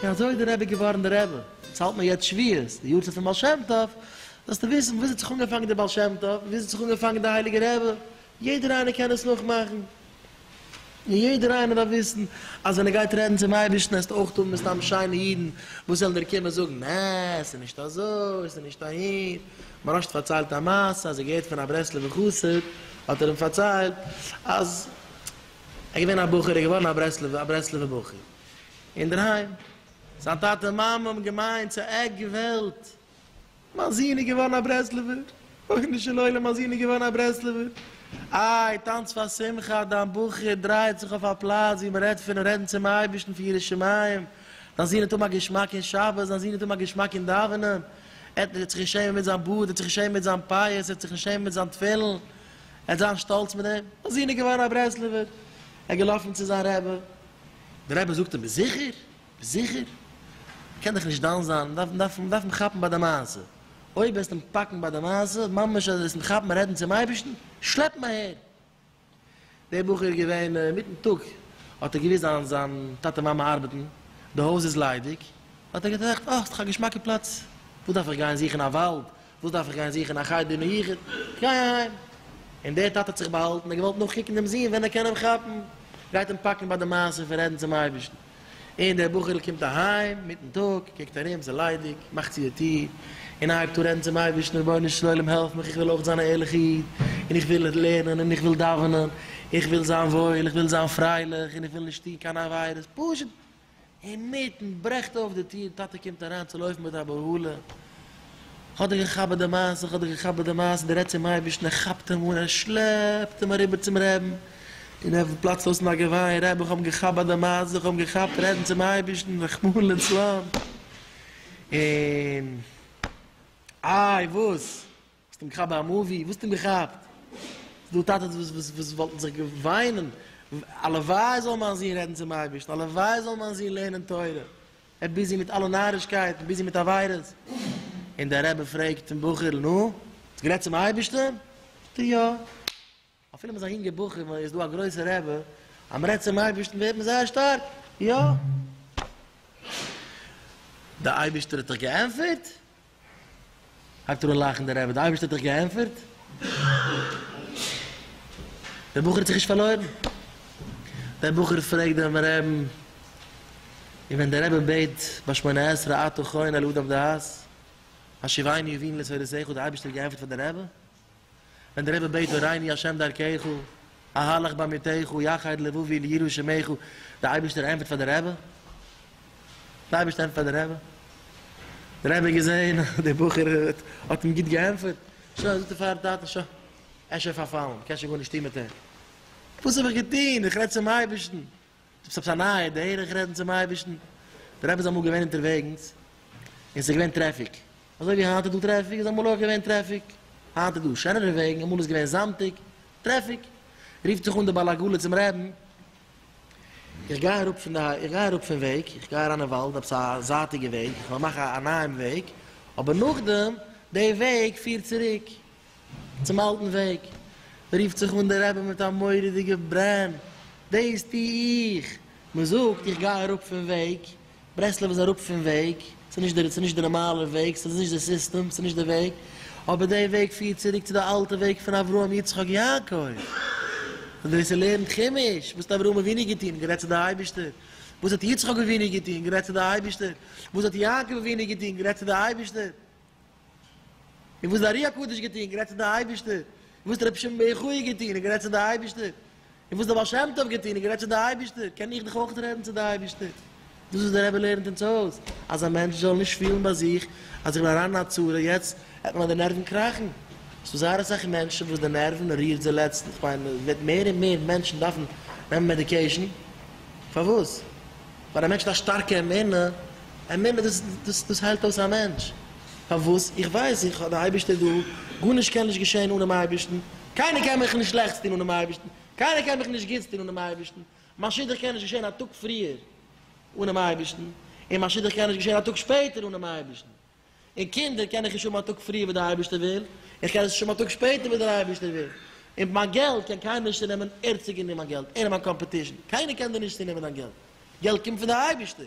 און אזוי איז דער רבי געווארן דער רבי, אונז האלט מיר יעצט שביעות, די יארצייט פון בעל שם טוב, זאלסטו וויסן וואו עס האט זיך אנגעפאנגען דער בעל שם טוב, וואו עס האט זיך אנגעפאנגען דער הייליגער רבי, יעדער איינער קען עס נאכמאכן. און יעדער איינער דארף וויסן אז ווען ער גייט רעדן צום אייבערשטן עסט אויך האבן מסתם שיינע אידן וואס וועלן דיר קומען זאגן נע עס איז נישט אזוי עס איז נישט אהין, מרשת פארציילט א מעשה אז ער געהערט פון א ברסלב'ע חסיד האט ער אים פארציילט אז ער געווען א בחור ער איז געווארן א ברסלב'ע א ברסלב'ע בחור אינדערהיים זיין טאטע מאמע האבן געמיינט ס'איז עק וועלט. מיין זון איז געווארן א ברסלב'ער, ריבונו של עולם מיין זון איז געווארן א ברסלב'ער, איי טאנץ פאר שמחה, דיין בחור דרייעט זיך אויף א פלאץ ווי מען רעדט פון רעדן צום אייבערשטן פון יראת שמים, דיין זון האט האבן א געשמאק אין שבת, דיין זון האט האבן א געשמאק אין דאווענען, ער האט זיך נישט שעמען מיט זיין בארד, ער האט זיך נישט שעמען מיט זיין פאות, ער האט זיך נישט שעמען מיט זיין תפילין, ער האט זיין שטאלץ מיט דעם, מיין זון איז געווארן א ברסלב'ער, ער איז געלאפן צו זיין רבי, דער רבי זאגט אים ביסט זיכער? זיכער? מ'קען דאך נישט דן זיין, מ'דארף מ'דארף אים כאפן ביי די מעשה. אויב וועסט אים פאקן ביי די מעשה, ממש אז וועסט אים כאפן רעדן צום אייבערשטן, שלעפ אים אהער! דער בחור איז געווען אינמיטן טאג, האט ער געוויסט זיין זיין טאטע מאמע ארבעטן, די הויז איז ליידיג, האט ער געטראכט, אה, ס'איז דאך א געשמאקע פלאץ, וואס דארף איך גיין זוכן א וואלד, וואס דארף איך גיין זוכן א חדר אין היכון? איך גיי אהיים! און דער טאטע האט זיך באהאלטן, ער האט געוואלט נאכקוקן דעם זון ווען ער קען אים כאפן, גייט אים פאקן ביי די מעשה פון רעדן צום אייבערשטן. און דער בחור'ל קומט אהיים מיטן טאג, קוקט ארום, ס'איז ליידיג, מאכט צו די טיר, און הייבט אן רעדן צום אייבערשטן, רבונו של עולם העלף מיך, איך וויל אויך זיין א ערליכע איד, און איך וויל לערנען, און איך וויל דאווענען, איך וויל זיין וואויל, איך וויל זיין פרייליך, און איך וויל נישט טון קיינע עבירות, פשוט אינמיטן ברעכט אויף די טיר, טאטע קומט אריין צו לויפן מיט א בהלה, כ'האב דיר געכאפט ביי די מעשה, כ'האב דיר געכאפט ביי די מעשה, דער רעדט צום אייבערשטן, ער כאפט אים אן, ער שלעפט אים אריבער צום רעבן, און ער פלאצט אויס אין א געוויין, רבי כ'האב אים געכאפט ביי די מעשה, כ'האב אים געכאפט רעדן צום אייבערשטן, רחמנא לצלן, און איי וואס. האסט אים געכאפט ביי א מאווי? וואו האסטו אים געכאפט? ס'דא טאטעס וואס וואלטן זיך געוויינען, הלוואי זאל מיין זון רעדן צום אייבערשטן, הלוואי זאל מיין זון לערנען תורה, ער ביזי מיט אלע נארישקייטן, ביזי מיט עבירות, און דער רבי פרעגט דעם בחור'ל, נו, האסט גערעדט צום אייבערשטן? זאגט ער, יא. אפילו מ'איז א יונגע בחור און מ'איז דא א גרויסע רבי אז מ'רעדט צום אייבערשטן ווערט מען זייער שטארק, יא! דער אייבערשטער האט דיך געענטפערט? הייבט אן לאכן דער רבי, דער אייבערשטער האט דיך געענטפערט? דער בחור האט זיך נישט פארלוירן, דער בחור פרעגט דעם רבין, און ווען דער רבי בעט ביי שמונה עשרה אתה חונה לאדם דעת, השיבני ובין לצורותיך האט דער אייבערשטער געענטפערט פאר דער רבי? ווען דער רבי בעט הורייני השם דרכך, אהלך בעמיתך, יחד לבבי ליראי שמך, דער אייבערשטער ענטפערט פאר דער רבי? דער אייבערשטער ענטפערט פאר דער רבי? דער רבי האט געזען אז דער בחור האט אים גוט געענטפערט, שוין, זאגט ער פארן טאטן, שוין, ער איז שוין פארפאלן, מ'קען שוין גארנישט טון מיט אים, וואס האב איך געטון, איך רעד צום אייבערשטן, ס'איז עפעס א נייע דרך רעדן צום אייבערשטן? דער רבי איז אמאל געווען אונטערוועגנס און ס'איז געווען טרעפיק, אזוי ווי היינט איז דא טרעפיק איז אמאל אויך געווען טרעפיק, היינט איז דא שענערע וועגן, אמאל איז געווען זאמטיג, טרעפיק, רופט זיך אן דער בעל עגלה צום רבי'ן, איך גיי אראפ פון די איך גיי אראפ פון וועג, איך גיי אריין אין וואלד, עפעס א זייטיגע וועג, איך וועל מאכן א נייעם וועג, אבער נאכדעם, די וועג פירט צוריק, צום אלטן וועג, רופט זיך אן דער רבי מיט א מורא'דיגע ברען, דאס טו איך! מען זאגט איך גיי אראפ פון וועג, ברסלב איז אראפ פון וועג, ס'איז נישט די, ס'איז נישט די נארמאלע וועג, ס'איז נישט די סיסטעם, ס'איז נישט די וועג, אבער די וועג פירט צוריק צו די אלטע וועג פון אברהם יצחק יעקב, און ווער ס'לערנט חומש, וואס האט אברהם אבינו געטון? גערעדט צו די אייבישטער, וואס האט יצחק אבינו געטון? גערעדט צו די אייבישטער, וואס האט יעקב אבינו געטון? גערעדט צו די אייבישטער. און וואס דער ארי הקדוש געטון, גערעדט צו די אייבערשטער, און וואס רבי שמעון בר יוחאי געטון, גערעדט צו די אייבערשטער, און וואס דער בעל שם טוב געטון, גערעדט צו די אייבערשטער, קען איך דאך אויך רעדן צו די אייבערשטער. דאס וואס דער רבי לערנט אונז אויס, אז א מענטש זאל נישט פילן ביי זיך אז איך בין אריין אין א צרה, יעצט העט מען אז די נערוון קראכן. עס איז זייער אסאך מענטשן וואס די נערוון רירט זיי לעצטנס, איך מיין עס וועט מער און מער מענטשן דארפן נעמען מעדיקעישן, פארוואס? פאר א מענטש מיט א שטארקע אמונה, אמונה דאס דאס דאס היילט אויס א מענטש, פארוואס? איך ווייס איך האב די אייבערשטער דא, גארנישט קען נישט געשען אנעם אייבערשטן, קיינער קען מיך נישט שלעכטס טון אנעם אייבערשטן, קיינער קען מיך נישט גוטס טון אנעם אייבערשטן, מיין שידוך קען נישט געשען א טאג פריער אנעם אייבערשטן, און מיין שידוך קען נישט געשען א טאג שפעטער אנעם אייבערשטן. און קינדער קען איך נישט האבן א טאג פריער ווי דער אייבערשטער וויל, איך קען עס נישט האבן א טאג שפעטער ווי דער אייבערשטער וויל, און מיין געלט קען קיינער נישט צונעמען, ער האט צוגענומען מיין געלט, ער איז מיין קאמפעטישן, קיינער קען דיר נישט צונעמען דיין געלט, געלט קומט פון דער אייבערשטער.